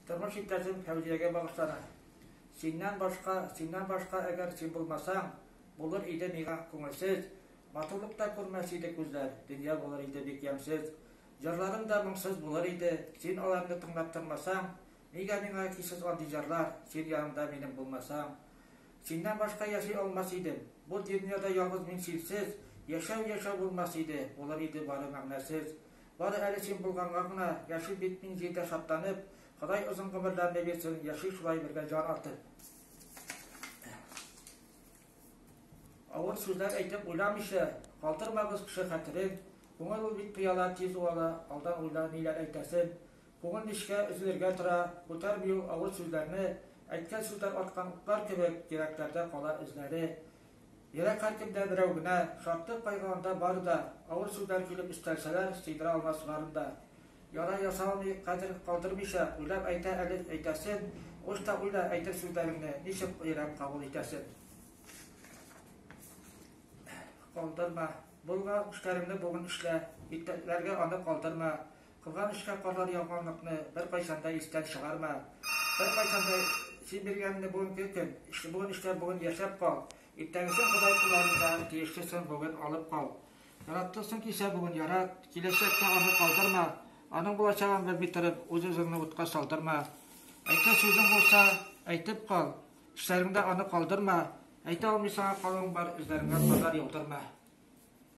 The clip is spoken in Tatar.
Тормыш иптәшем Фәүзиягә багышлана. Синнән башка, синнән башка әгәр син булмасаң, булыр иде миңа күңелсез, матурлык та күрмәс иде күзләр, дөнья булыр иде бик ямьсез. Җырларым да моңсыз булыр иде, син аларны тыңлап тормасаң, нигә миңа кичсез андый җырлар, син янымда минем булмасаң. Синнән башка яши алмас идем, Бу дөньяда ялгыз мин синсез, Яшәү яшәү булмас иде, Булыр иде бары мәгънәсез. Бары әле син булганга гына, Яшим бит мин җирдә шатланып, Ходай озын гомерләрне бирсен, Яшик шулай бергә җан атып. Авыр сүзләр әйтеп уйламыйча, Калдырмабыз кеше хәтерен, Күңел ул бит пыяла, тиз уала, Алдан уйла, ниләр әйтәсен. Күңел нечкә, өзелергә тора, Үтәр бию авыр сүзләрне, Әйткән сүзләр аткан утлар кебек, Йөрәкләрдә кала эзләре. Йөрәк һәркемдә берәү генә, Шатлык, кайгы анда бар да, Авыр сүзләр килеп өстәлсәләр, Сыйдыра алмас барын да. Яра яса алмый, кадер калдырмыйча, Уйлап әйтә әле әйтәсен, Уч та уйла, әйтер сүзләреңне, Ничек йөрәк кабул итәсен. Калдырма. Булган эшләреңне бүген эшлә, Иртәләргә аны калдырма. Кылган эшкә кадәр ялганлыкны беркайчан да истән чыгарма. Беркайчан да син биргәнне бүгенге көн, эшне бүген эшләп, бүген яшәп кал. Иртәгесен Ходай кулларында тиешлесен бүген алып кал. Яраттыңсың кичә бүген ярат, киләчәктә аны калдырма. Аның булачагын белми торып, үз-үзеңне утка салдырма. Әйтер сүзең булса, әйтеп кал. Эшләреңдә аны калдырма. Әйтә алмыйсың, калуың бар, үзләреңә кадәр яудырма.